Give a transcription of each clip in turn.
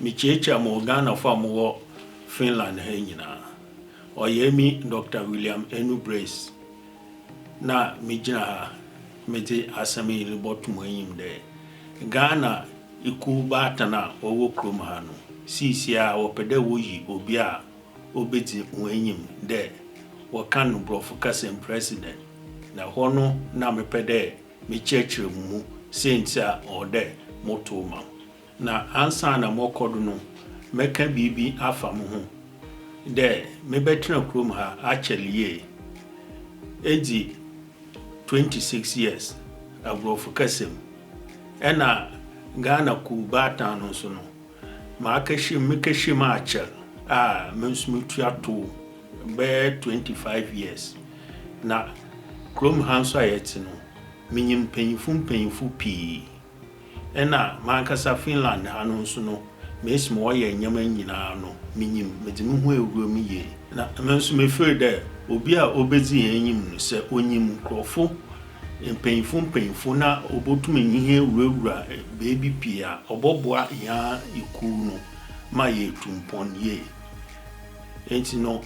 Mekyiakyia mo Ghanafoɔ a mowɔ Finland ha nyinaa. Ɔyɛ emi Dɔkta William Enu Brace na megyina ha medze asɛm yi robɔto mo enyim dɛ, Ghana ekuw baatan a wɔwɔ kurom ha no, siisiara wɔpɛ dɛ woyi obi a obedzi hɔn enyim dɛ wɔkan no Borɔfo kasa mu President, na hɔ no na mepɛ dɛ mekyerɛkyerɛ mu mu siantsir a ɔwɔ dɛ motow ma wo. Na ansaana mɔkɔ do no, mɛkã biribi afa moho, dɛ mebɛtsena kurom ha akyɛr yie, edzi twenty six years aborɔfo kasa mu, nna Ghana Kuw Baatan no so no Makɛhyem mekɛhyem akyɛr a me so metua tow bɛyɛ twenty five years na kurom ha so a yɛtse no minyim mpanyimfo mpanyimfo pii nna mankasa Finland ha no so no mesi ma wɔyɛ ndzɛmba nyina no minyim medze moho ewura mu yie na me so mefir dɛ obi a obedzi hɛn enyim no sɛ onyim nkorɔfo mpanyimfo mpanyimfo na obotum nye hɛn ewurawura beebi pii a, ɔbɔboa hɛn ara ekuw no ma yeetu mpon yie. Ntsi no,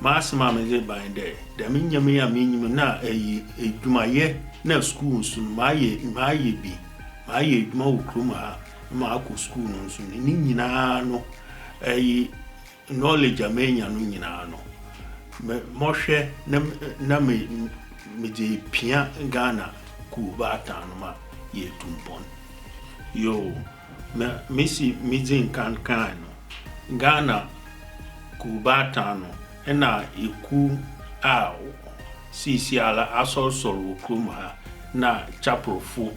m'asɛm a medze reba nye dɛ, dɛm ndzɛmba yi a minyim no na eyi edwumayɛ na skuul no so no, mayɛ mayɛ bi, mayɛ edwuma wɔ kurom ha na makɔ skuul no so no, ne nyina no eyi Knowledge a menya no nyinaa no, me mɔhwɛ na na me medze pia Ghana kuw baatan no ma yeetu mpon. Yoo, na mesi midzi nkan kãe no, Ghana kuw baatan no nna ekuw a siisiara asɔrsɔr wɔ kurom ha na Chapelfo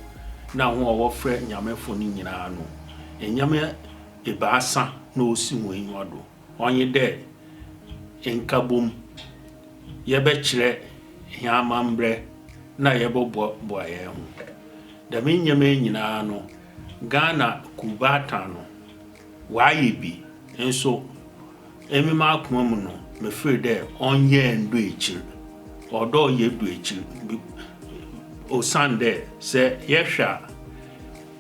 na hɔn a wɔfrɛ Nyamefo no nyinaa no, nnyɛ me ebiasa na osi hɔn enyiwa do, ɔnye dɛ, Nkabom, yɛbɛkyerɛ hɛn amambrɛ na yɛbɔboaboa hɛnho. Dɛm ndzɛmba yi nyina no, Ghana Kuwbaatan no, ɔayɛ bi, nso emi m'akoma mu no, mefir dɛ ɔnnyɛ ndu ekyir. Ɔwɔ dɛ ɔyɛ du ekyir, osiandɛ sɛ yɛhwɛ a,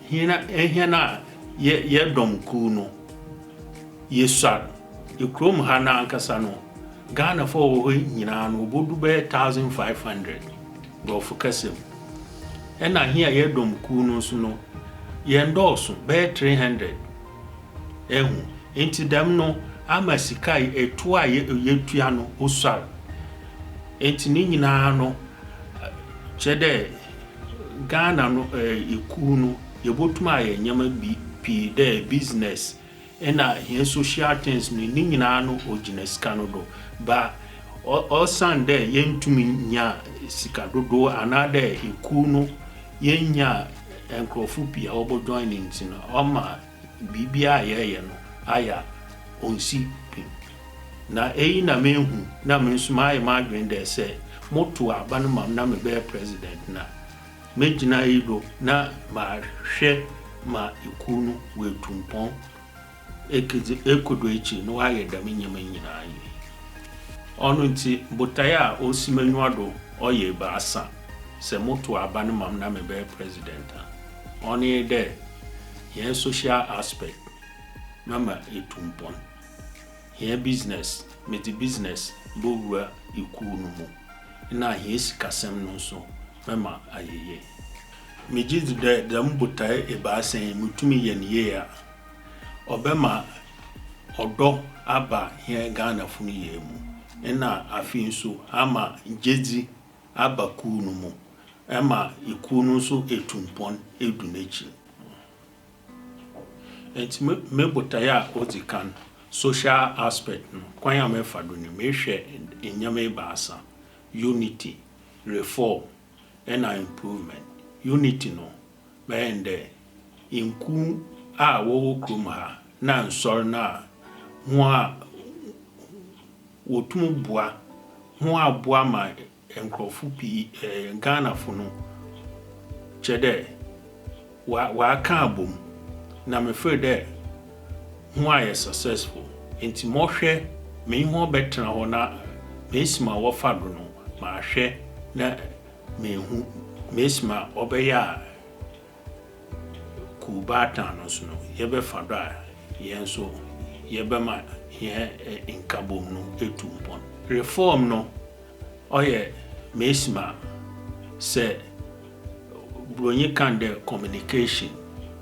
Hena hɛn na yɛ yɛ dɔm kuw no? Yesuar, kurom ha no ankasa no, Ghanafo a wɔwɔ hɔ nyina no, wobodu bɛyɛ thousand five hundred, Borɔfo kasa mu. Nna hɛn a yɛ dɔm kuw no so no, yɛnndɔɔ sõ, bɛyɛ three hundred. Ehu? Ntsi dɛm no ama sika a etua a yɛ yetua no osuar. Ntsi ne nyina no kyerɛ dɛ. Ghana no ekuw no yebotum ayɛ ndzɛmba bi pii dɛ business na hɛn social things no ne nyinara no ogyina sika no do ba osiandɛ yenntum nnya sika dodow anaadɛ ekuw no yennyaa nkorɔfo pii a wɔbɔ join no ntsi no ɔma biribiara a yɛreyɛ no ayɛ a, onnsi pi. Na eyi na mehu, na me nso mayɛ m'adwene dɛ sɛ motow aba no ma me na mebɛyɛ president no a, megyina iyi do na mahwɛ ma ekuw no woetu mpɔn ekedzi ekodu ekyir na wɔayɛ dɛm ndzɛmba yi nyina yie. Ɔno ntsi, botae a osi m'enyiwa do ɔyɛ ebiasa, sɛ motow aba no ma me na mebɛyɛ president a. Ɔno nye dɛ, hɛn social aspect, mɛma etu mpon. Hɛn business, medze business bowura ekuw no mu. Nna hɛn sikasɛm no so, mɛma ayɛ yie. Megye dzi dɛ dɛm botae ebiasa yi, mutum yɛ no yie a, ɔbɛma ɔdɔ aba hɛn Ghanafo no nyina mu. Nna afei so, ama gyedzi aba kuw no mu ma kuw no nso tu mpɔn du n'ekyir. Ntsi me me botae a odzi kan, social aspect no, kwan a mɛfa do nye mehwɛ ndzɛmba ebiasa, unity, reform na improvement. Unity no, bɛyɛ no dɛ nkuw a wɔwɔ kurom ha na nsɔr no a hɔn a. Wɔtum boa ho ara boa ma nkorɔfo pii, Ghanafo no, kyerɛ dɛ, wɔakã abɔmu na mefer dɛ ho ayɛ successful ntsi mɔhwɛ menye hɔn bɛtsena hɔ na mesi ma wɔfa do no mahwɛ na meehu, mesi ma ɔbɛyɛ a. Kuw baatan no so no, yɛbɛfa do a hɛn so yɛbɛma hɛn nkabɔmu no etu mpon. Reform no, ɔyɛ mesim a sɛ Buronyi kã dɛ communication,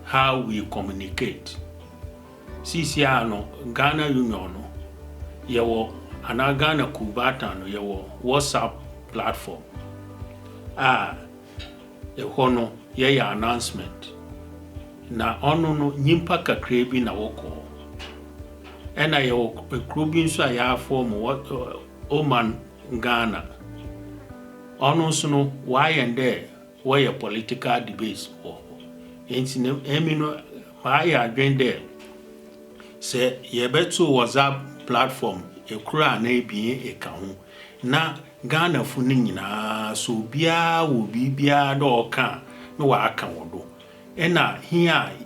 how we communicate. Sisiara no, Ghana Union no, yɛwɔ, anaa Ghana Kuw baatan no, yɛwɔ WhatsApp platform a, Ehɔ no yɛyɛ announcement na ɔno no nyimpa kakraa bi na wɔkɔ hɔ. Ɛna yɛwɔ ekuro bi nso a yɛafɔɔm wɔ Oman Ghana. Ɔno nso no wɔayɛ no dɛ wɔyɛ political debates wɔ hɔ. Enti no emi no mayɛ adwen dɛ sɛ yɛbɛto WhatsApp platform ekoro anaa ebien eka ho na. Ghanafo no nyinaa so obiara wɔ biribiara dɛ ɔka a na ɔaka wɔ do. Nna hia a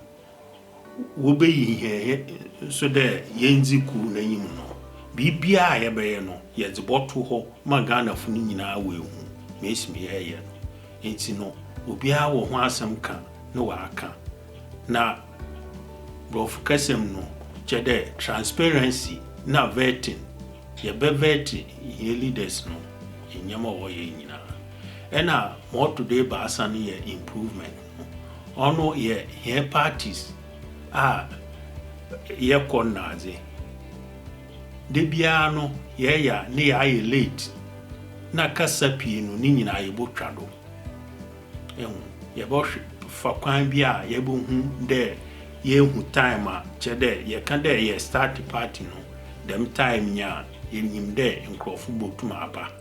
wobeyi hɛn he so dɛ yendzi kuw n'enyim no, biribiara a yɛbɛyɛ no yɛdze bɔto hɔ ma Ghanafo no nyinaa woeehu ma esi me yɛreyɛ no. Ntsi no obiara wɔ ho asɛm ka na ɔaka. Na. Borɔfo kasa mu no, kyerɛ dɛ transparency na vetting, yɛbɛ vɛɛte hɛn leaders no ndzɛmba a wɔyɛ nyina. Nna ma ɔto do ebiasa no yɛ improvement no, ɔno yɛ hɛn parties a yɛkɔ no nadze. Da biara no yɛyɛ a ne yɛayɛ late na kasa pii no ne nyina yebotwa do. ho. Yɛbɔhwɛ fa kwan bi a yɛbɔhu dɛ yeehu time a kyerɛ dɛ yɛkã dɛ yɛ start party no dɛm time nye a yenyim dɛ nkorɔfo botum aba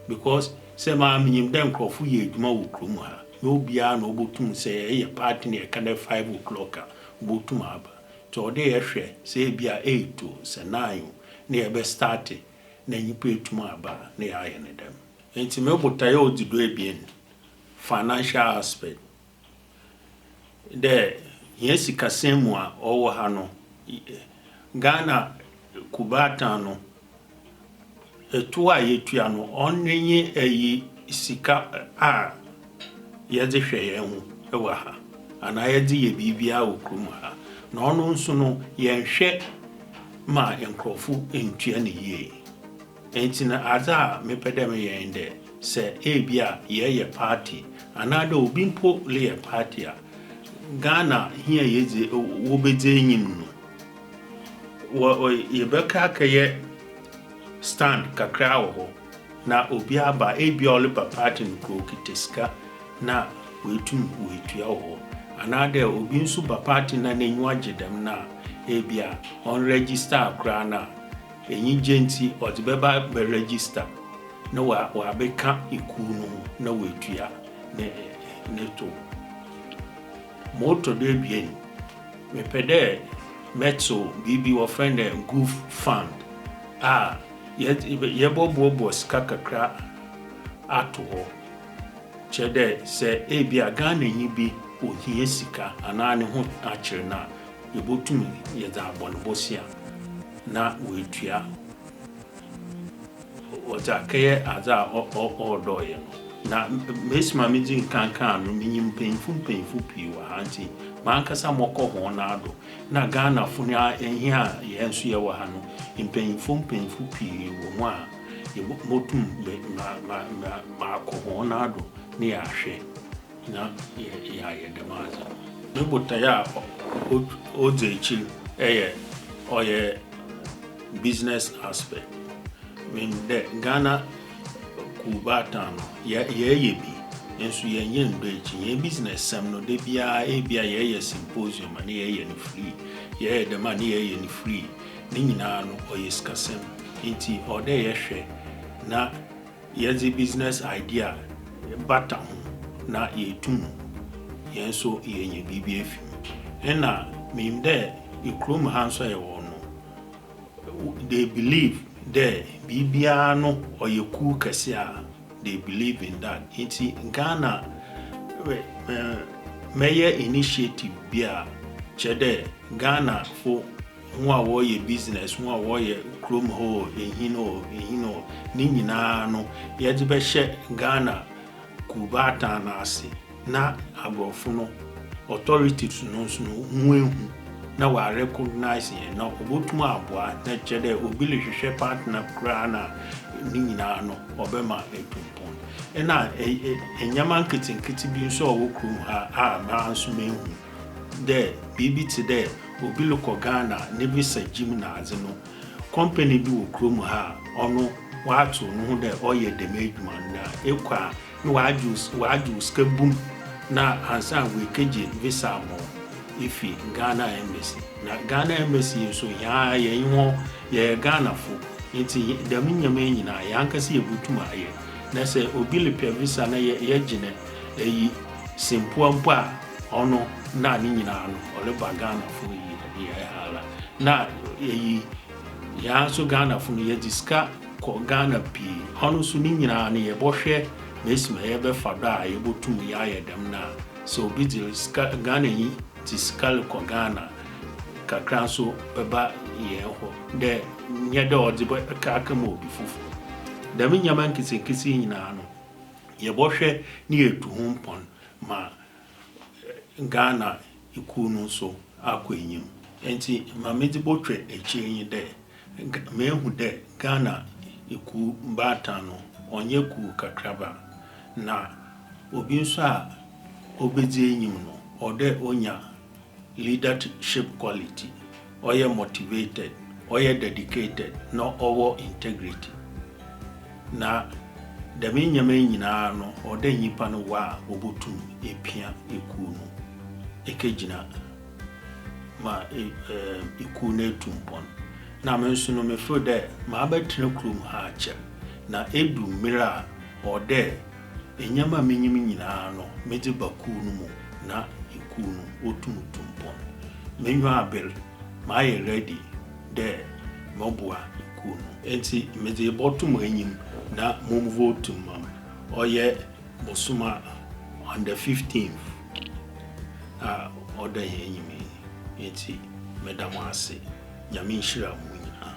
because sɛ maa minyim dɛ nkorɔfo yɛ edwuma wɔ kurow mu ha nyɛ obiara na obotum sɛ yɛreyɛ party no yɛkã dɛ five o'clock a obotum aba ntsi ɔwɔ dɛ yɛhwɛ sɛ ebi a eight o sɛ nine o na yɛbɛ start na nyimpa etum aba na yɛayɛ no dɛm. Ntsi me botae a odzi do ebien financial aspect dɛ hɛn sikasɛm mu a ɔwɔ ha no, Ghana kubata no, tow a yetua no, ɔno nye ayi sika a yɛdze hwɛ hɛnho wɔ ha anaa yɛdze yɛ biribiara wɔ kurom ha, na ɔno so no yɛnnhwɛ ma nkorɔfo nntua no yie. Ntsi no, adze a mepɛ dɛ meyɛ nye dɛ, sɛ ebi a yɛreyɛ party, anaadɛ obi mpo reyɛ party a, Ghana hia a yedzi wobedzi enyim no, yɛbɛkɔ akɛyɛ stand kakra wɔ hɔ na obi aba a, ebi a ɔreba party no koraa okitsa sika na oetum oetua wɔ hɔ. Anaadɛ obi so ba party no na n'enyiwa gye dɛm no a, ebi a ɔnnregister koraa no a. Enyigye ntsi, ɔdze bɛba abɛregister na ɔabɛka ekuw no ho na oetua ne tow. Ma ɔtɔ do ebien, mepɛ dɛ mɛtsew biribi wɔfrɛ no dɛ Gov Fund a yɛbɔboaboa sika kakra ato hɔ. Kyerɛ dɛ, sɛ ebia Ghananyi bi ohia sika anaa no ho akyer no a, Yebotum yɛ dza abɔnbɔsi a na oetua ɔdze akɛyɛ adze a ɔɔdɔ yɛ no. Na mesi ma midzi nkan kã a no, minyim mpanyimfo mpanyimfo pii wɔ ha ntsi mankasa mɔkɔ hɔn nan do. Nna Ghanafo no ara hia a hɛn so yɛwɔ ha no, mpanyimfo mpanyimfo pii wɔ mu a yebotum me ma ma ma makɔ hɔn nan do na yɛahwɛ. na yɛayɛ dɛm adze no. Ne botae a odzi ekyir yɛ ɔyɛ business aspect, meaning dɛ Ghana kuw baatan no yɛreyɛ bi nso yɛnnyɛ nndɔ ekyir. Hɛn business sɛm no da biara ebi a yɛreyɛ symposium a na yɛreyɛ no free, yɛreyɛ dɛm a na yɛreyɛ no free. Ne nyinaa no ɔyɛ sikasɛm ntsi ɔwɔ dɛ yɛhwɛ na. Yɛdze business idea bata ho na yeetum hɛn so yeenya biribi efi mu. Nna minyim dɛ ekurom ha so a yɛwɔ no, they believe dɛ biribiara no ɔyɛ kuw kɛse a, they believe in that. Ntsi Ghana mɛyɛ initiative bi a kyerɛ dɛ Ghanafo, ho a wɔreyɛ business, ho a wɔreyɛ kurom hɔ o, ehin o, ehin o, ne nyinaa no, yɛdze bɛhyɛ Ghana Kuw Baatan no ase na aborɔfo no authorities no so no woehu na wɔa recognise hɛn na obotum aboa na kyerɛ dɛ obi rohwehwɛ partner koraa no a, ne nyinaa no ɔbɛma etu mpon. Nna ndzɛmba nketsenketse bi so a ɔwɔ kurom ha a mara so mehu. dɛ biribi tse dɛ obi rokɔ Ghana ne visa gyim nadze no, kɔmpani bi wɔ kurom ha a ɔno ɔatow noho dɛ ɔreyɛ dɛm edwuma no na ekɔ a na ɔagye wo ɔagye wo sika bum na ansaana oekegye visa ama wo efi Ghana embassy. Na Ghana embassy yi so hɛn ara yɛnye hɔn yɛyɛ Ghanafo ntsi dɛm ndzɛmba yi nyina hɛn ankasa yebotum ayɛ. Na sɛ obi repɛ visa na yɛ yɛgye no eyi simpoa mpo a, Ɔno na ne nyinaa no ɔreba Ghanafo yi ɛdeɛ hala na ɛyi yaa nso Ghanafo no yɛde sika kɔ Ghana pii ɔno nso ne nyinaa no yɛbɔhwɛ mɛsima yɛbɛfa dɔ a yɛbɔtum yɛayɛ dɛm no a sɛ obi de sika Ghana yi te sika rekɔ Ghana kakra nso bɛba yɛn hɔ dɛ nyɛ dɛ ɔde bɛka aka ma obi foforɔ dɛm nneɛma nketenkete yi nyinaa no yɛbɔhwɛ ne yɛtu ho mpɔn ma Ghana ekuw no so akɔ enyim. Ntsi ma medze bɔtwɛ ekyir nye dɛ, meehu dɛ Ghana ekuw baatan no ɔnnyɛ kuw kakraba, na obi so a obedzi enyim no ɔwɔ dɛ onya Leadership quality, ɔyɛ motivated, ɔyɛ dedicated na ɔwɔ integrity. Na dɛm ndzɛmba yi nyina no ɔwɔ dɛ nyimpa no wɔ a obotum epia ekuw no ekegyina ma ekuw no etu mpon. Na me so no me feel dɛ mabɛtsena kurom ha akyɛr na edu ber a ɔwɔ dɛ, Nneɛma a minyim nyinaa no medze ba kuw no mu na ekuw no wotum tu mpon. M'enyiwa aber, mayɛ ready dɛ mɔboa ekuw no. Ntsi medze bɔto mo enyim na momvotu mma me. Ɔyɛ bosoom a on the fifteenth a ɔda hɛn enyim yi. Ntsi meda mo ase. Nyame nhyira mo nyinaa.